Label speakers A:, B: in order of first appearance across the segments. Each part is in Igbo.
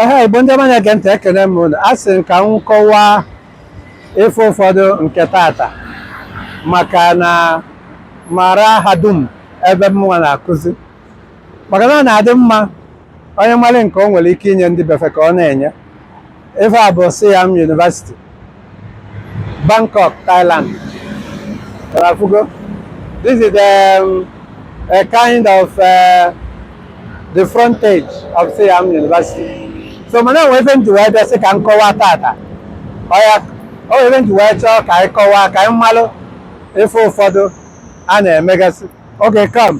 A: aha igbo ndị ọma na-ege ntị ekene m unu a sị m ka m kọwaa ife ụfọdụ nke tata maka na marahadum ebe mụnwa na-akụzi maka na ọ na-adị mma onye malụ nke o nwere ike inye ndị be fa ka ọ na-enye Ife a bụ Siam University, Bangkok, Thailand. Ị fụgo. This is um, a kind of uh, the frontage of Siam University. So mana e nwe ife m ji wee bịa sị ka m kọwaa tata. Ọya, o nwere ife m ji wee chọọ ka anyị kọwaa ka anyị malụ ife ụfọdụ a na-emegasị. Okay, come.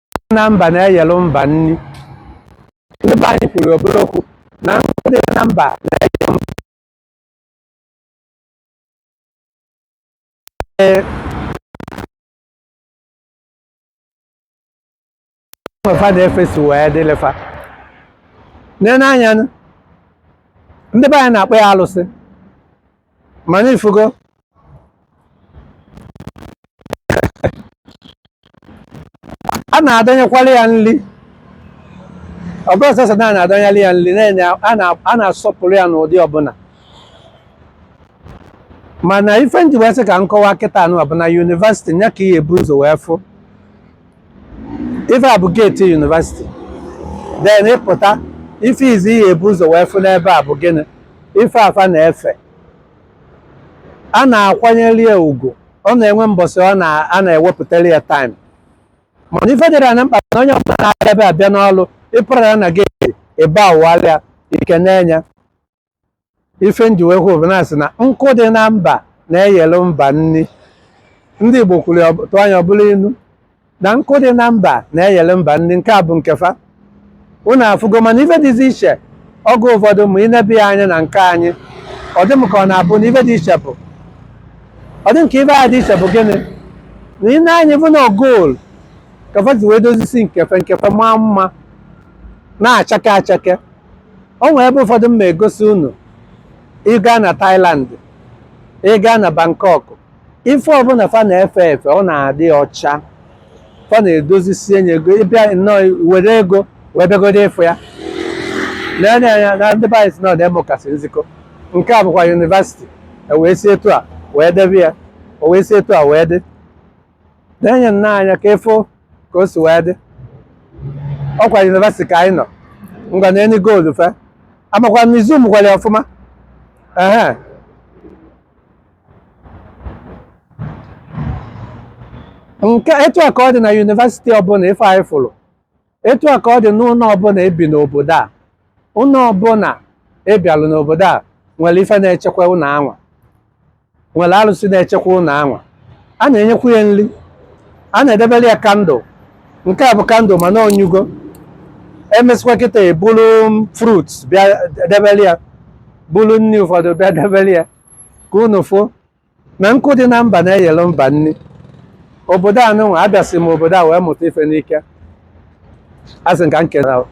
A: na mba na-eyelu mba nni ndị be anyị kwuru obere okwu na nkụ dị na mba na-eyelu mba Ee, nke fa na-efe si wee dịlị fa nene anya nụ, ndị be anyị na-akpọ ya alụsị mana ị fụgo a na-adọnyekwara ya nri ọ bụrọ sọsọ na a na-adọnyere ya nri na-enye ya- a na- a na-asọpụrụ ya n'ụdị ọbụla mana ife m ji wee sị ka m kọwaa kịtaa nụ bụ na yunivasịtị nya ka ị ya-ebu ụzọ wee fụ ife a bụ geeti yunivasịtị then ị pụta ife izi ị ya-ebu ụzọ wee fụ n'ebe a bụ gịnị ife a fa na-efe a na-akwanyere ya ugwu ọ na-enwe mbọsị ọ na a na-ewepụtara ya taịm mana ife dịrị ya mkpa na onye ọbụla na-abịa ebe a bịa n'ọrụ ị fụrụ ya na geeti ebe a wụalị ya i kenee ya ife m ji wee kwuo bụ na a sị na nkụ dị na mba na-eyelu mba nni ndị Igbo kwuru ya tụọ nya ọ bụrụ inu na nkụ dị na mba na-eyere mba nni nke a bụ nke fa unu afụgo mana ife dịzi iche oge ụfọdụ ma i nebe ya anya na nke anyị ọ dị m ka ọ na-abụ na ife dị iche bụ ọ dị m ka ife a dị iche bụ gịnị nene anya ị fụ na goolu ka fa ji wee dozisi nke fa nke fa maa mma na-achake achake o nwere ebe ụfọdụ m ga-egosi unu ị gaa na Thailand ị gaa na Bangkok ife ọbụla fa na-efe efe ọ na-adị ọcha fa na-edozisie nye ego ị bịa nnọọ were ego wee bịagodo ị fụ ya nene anya na ndị be anyị sị na ọdemokasi nzikọ nke a bụkwa yunivasiti e wee si etu a wee debe ya o wee si etu a wee dị nene nnọọ anya ka ị fụ ka o si wee dị ọ kwa yunivasiti ka anyị nọ ngwa nene goolu fa amakwa na ị zoomkwara ya ọfụma ehe nke etu a ka ọ dị na yunivesiti ọbụla ife anyị fụrụ etu a ka ọ dị n'ụlọ ọbụla e bi n'obodo a ụlọ ọbụla a bịalụ n'obodo a nwere ife na-echekwa ụlọ anwa nwere arụsị na-echekwa ụlọ anwa a na-enyekwu ya nri a na-edebere ya kandụl nke a bụ kandụl mana ọ nyụgo e mesịkwa kịta e buru fruit bịa debere ya buru nri ụfọdụ bịa debere ya ka unu fụ na nkụ dị na mba na-eyelu mba nri obodo anụnwa abịasị m obodo a wee mụta ife n'ike a sị ka m kere ahụ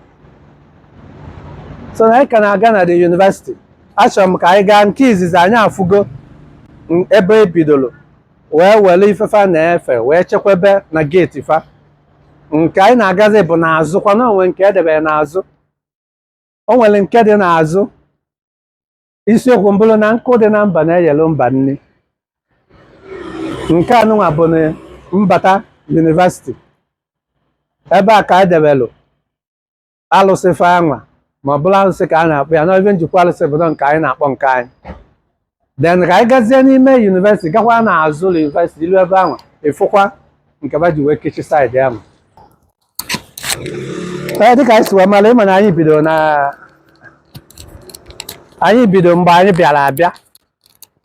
A: so na anyị ka na-aga na the university achọrọ m ka anyị gaa nke izizi anyị afụgo m- ebe e bidoro wee were ife fa na-efe wee chekwebe na geeti fa nke anyị na-agazi bụ n'azụ kwana o nwe nke e debere n'azụ o nwere nke dị n'azụ isiokwu m bụrụ na nkụ dị na mba na-eyelu mba nri nke anụnwa bụ na mbata yunivasiti ebe a ka e debelu alụsị fa anwa ma ọ bụrụ alụsị ka a na-akpọ ya n'ebe njikwa alụsị bụ nke anyị na-akpọ nke anyị then ka anyị gazie n'ime yunivesiti gakwa n'azụ ụlọ yunivesiti ilu ebe anwa ịfụkwa nke fa ji wee kechie side anwa ee dịka anyị si wee mara ị ma na anyị bidoro na anyị bidoro mgbe anyị bịara abịa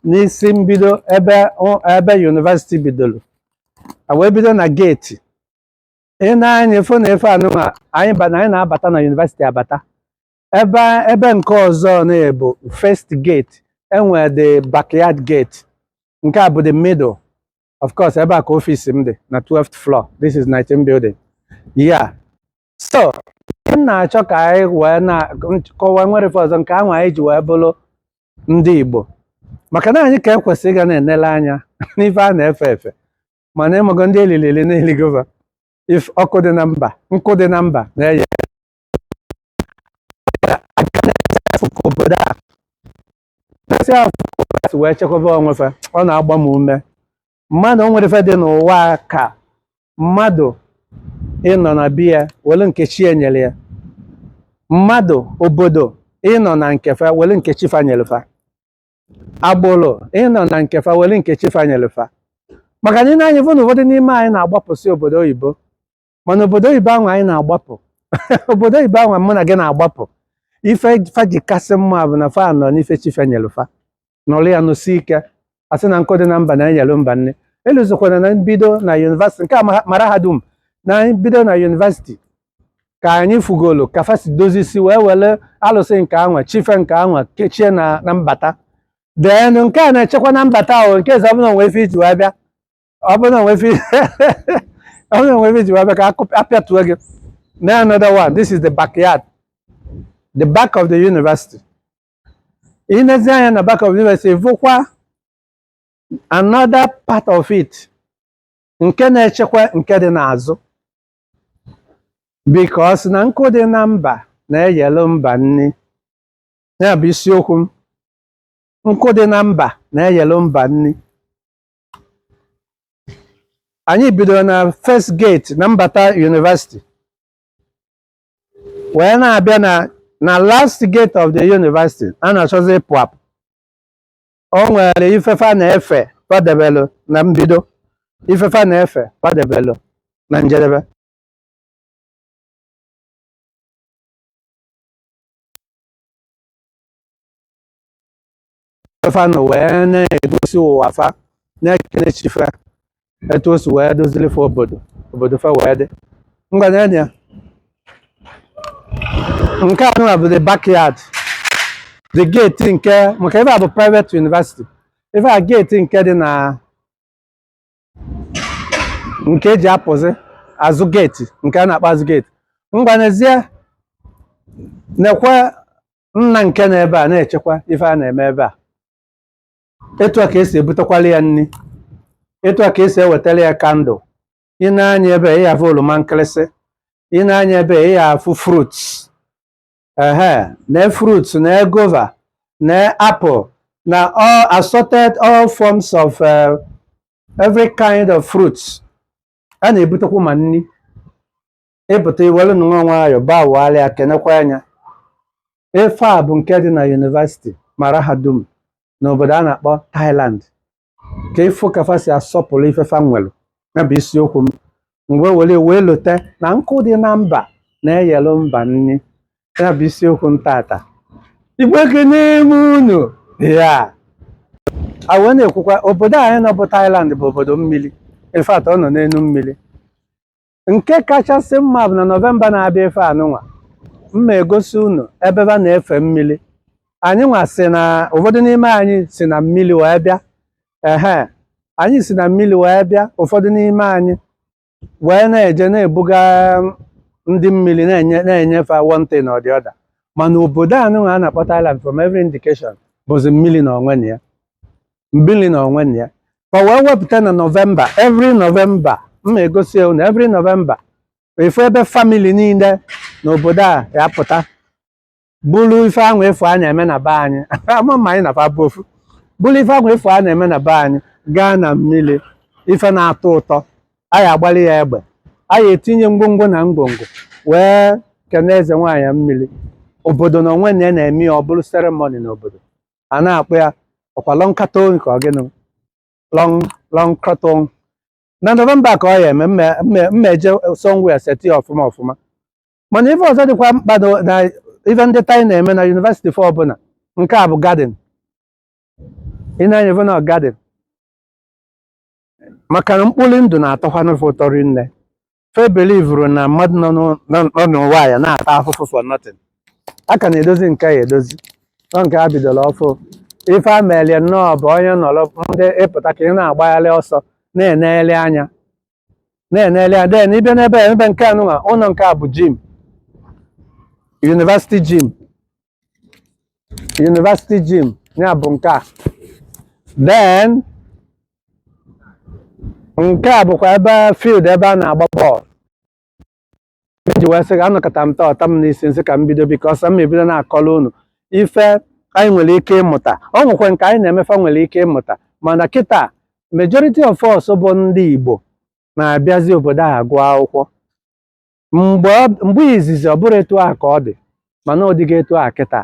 A: n'isi mbido ebe ụ- ebe yunivesiti bidoro a wee bido na geeti ị nee anya ị fụ na ebe anụnwa anyị ba- na anyị na-abata na yunivesiti abata ebe ebe nke ọzọ na-abụ first gate e nwere the backyard gate nke a bụ the middle of course ebe a ka ọfịs m dị na 12th floor this is 19 building yeah so m na-achọ ka anyị wee na-akọwa nwere ife ọzọ nke ahụ anyị ji wee bụrụ ndị Igbo maka na anyị ka ekwesị ịga na-enele anya n'ife a na-efe efe mana ị mago ndị e lili eli na-eligova if ọkụ dị na mba nkụ dị na mba na-eye obodo a esi fa si wee chekwaba onwe fa ọ na-agba m ume mmadụ o nwere ife dị n'ụwa a ka mmadụ ịnọ na be ya were nke chi ya nyere ya mmadụ obodo ịnọ na nke fa were nke chi fa nyere fa agbụrụ ịnọ na nke fa were nke chi fa nyere fa maka na ị nee anya fụ na ụfọdụ n'ime anyị na-agbapụsị obodo oyibo mana obodo oyibo anwa anyị na-agbapụ obodo oyibo anwa mụ na gị na-agbapụ ife fa ji kasị mma bụ na fa nọ n'ife chi fa nyere fa nọrọ ya nọsie ike a sị na nkụ dị na mba na-eyelu mba nni elozọkwana na mbido na yunivasịtị nke a ma- mara ha dum na mbido na yunivasịtị ka anyị fugolo ka fa si dozisi wee were alụsị nke anwa chi fa nke anwa kechie na na mbata then nke a na-echekwa na mbata ahụ nke eze ọbụla nwee ife i ji wee bịa ọ bụrụ na i nwee ife ọ bụrụ na i nwee ife i ji wee bịa ka a kụ- a pịatuo gị na another one this is the backyard the back of the university ị nezi anya na back of the university vụkwa another part of it nke na-echekwa nke dị n'azụ because na nkụ dị na mba na-eyelu mba nni ya bụ isiokwu m nkụ dị na mba na-eyelu mba nni anyị bidoro na first gate na mbata university wee na-abịa na na last gate of the university a na-achọzi ịpụ apụ o nwere ife fa na-efe kwadebelụ na mbido ife fa na-efe kwadebelụ na njedebe fa nọ wee na-egosi ụwa fa na-ekene chi fa etu o si wee dozili fa obodo obodo fa wee dị ngwa na ya nke anụwa bụ the backyard the gate nke maka ebe a bụ private university ebe a gate nke dị na nke e ji apụzi azụ gate nke a na-akpọ azụ gate ngwa nezie nekwe nna nke nọ ebe a na-echekwa ife a na-eme ebe a etu a ka e si ebutekwala ya nri etu a ka e si ewetara ya kandụl i nee anya ebe a, ị ga-afụ oroma nkịrịsị i nee anya ebe a, ị ga-afụ fruits ehe na fruits na guava na apple na all assorted all forms of uh, every kind of fruits a na-ebutekwa ma nri ị pụta i were nwa nwayọọ gbagharịa ka i nekwa anya ife a bụ nke dị na yunivasiti mahadum n'obodo a na-akpọ Thailand ka ị fụ ka fa si asọpụrụ ife fa nwere ya bụ isiokwu m mgbe were wee lote na nkụ dị na mba na-eyelụ mba nri ya bụ isiokwu m tata Igbo ekene m unu ya a wee na-ekwukwa obodo anyị nọ bụ Thailand bụ obodo mmiri in fact ọ nọ n'enu mmiri nke kachasị mma bụ na nọvemba na-abịa ife anụnwa m ma egosi unu ebe ba na-efe mmiri anyị nwa si na ụfọdụ n'ime anyị si na mmiri wee bịa ehe anyị si na mmiri wee bịa ụfọdụ n'ime anyị wee na-eje na-ebuga ndị mmiri na-enye na-enye fe one thing or the other mana obodo anụnwa a na-akpọ Thailand from every indication bụzi mmiri na onwe na ya mmiri na onwe na ya fa wee wepụta na nọvemba every nọvemba m ma egosi unu every nọvemba efu ebe famili niile n'obodo a ya pụta bụrụ ife ahụ efu a na-eme na be anyị ama m ma anyị na fa bụ ofu bụrụ ife ahụ efu a na-eme na be anyị gaa na mmiri ife na-atọ ụtọ anyị agbalị ya egbe anyị etinye ngwongwo na ngwongwo wee kene eze nwaanyị mmiri obodo na onwe na ya na-eme ya ọ bụrụ seremoni n'obodo a na-akpọ ya ọkwa Loy Krathong ka ọ gịnị Loy Loy Krathong na nọvemba ka ọ ya eme mme- mme- m ma eje somewhere seti ya ọfụma ọfụma mana ife ọzọ dịkwa mkpa na- na ife ndị Thai na-eme na yunivesiti fa ọbụla nke a bụ gadin ị na-anya ife na gadin maka na mkpori ndụ na-atọkwanụ fa ụtọ rinne fe belivuru na mmadụ nọ n'ụ- nọ- nọ n'ụwa ya na-ata afụfụ for nothing a ka na-edozi nke ya edozi ọ nke e bidoro ọfụụ ife a melie nnọọ bụ onye nọrọ ndị ị pụta ka ị na-agbagharị ọsọ na-enegharị anya na-enegharị anya den ị bịa n'ebe a, ebe nke anụnwa ụlọ nke a bụ jim yunivasiti jim university gym ya bụ nke a then nke a bụkwa ebe field ebe a na-agba bọọlụ e ji wee sị gị anọkata m taa ọ ta m n'isi m sị ka m bido because m ma ebido na-akọrọ unu ife anyị nwere ike ịmụta ọ nwekwa nke anyị na-eme fa nwere ike ịmụta mana kịta majority of us bụ ndị Igbo na-abịazi obodo a agụ akwụkwọ mgbe ọ- mgbe izizi ọ bụrọ etu a ka ọ dị mana ọ dịgo etu a kịta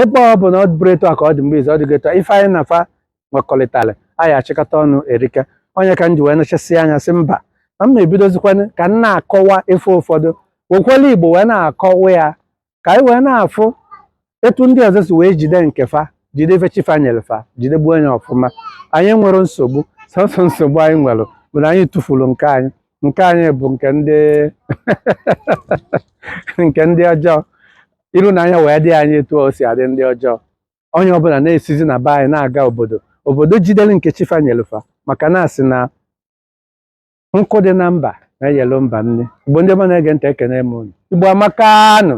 A: ebe ọ bụ na ọ bụrọ etu a ka ọ dị mgbe izizi ọ dịgo etu a ife anyị na fa nwekọrịtara a ya achịkọta ọnụ erika ọ nya ka m ji wee nechasị anya sị mba na m ma ebidozikwanụ ka m na-akọwa ife ụfọdụ wekwere igbo wee na-akọwa ya ka anyị wee na-afụ etu ndị ọzọ si wee jide nke fa jide ife chi fa nyere fa jidegbuo nya ọfụma anyị nwere nsogbu sọsọ nsogbu anyị nwere bụ na anyị tụfuru nke anyị nke anyị bụ nke ndị nke ndị ọjọọ iru na anya wee dị anyị etu o si adị ndị ọjọọ onye ọbụla na-esizi na be anyị na-aga obodo obodo jidere nke chi fa nyere fa maka na a sị na nkụ dị na mba na-eyelu mba nri igbo ndị ọma na-ege ntị ekene m unu igbo amakanụ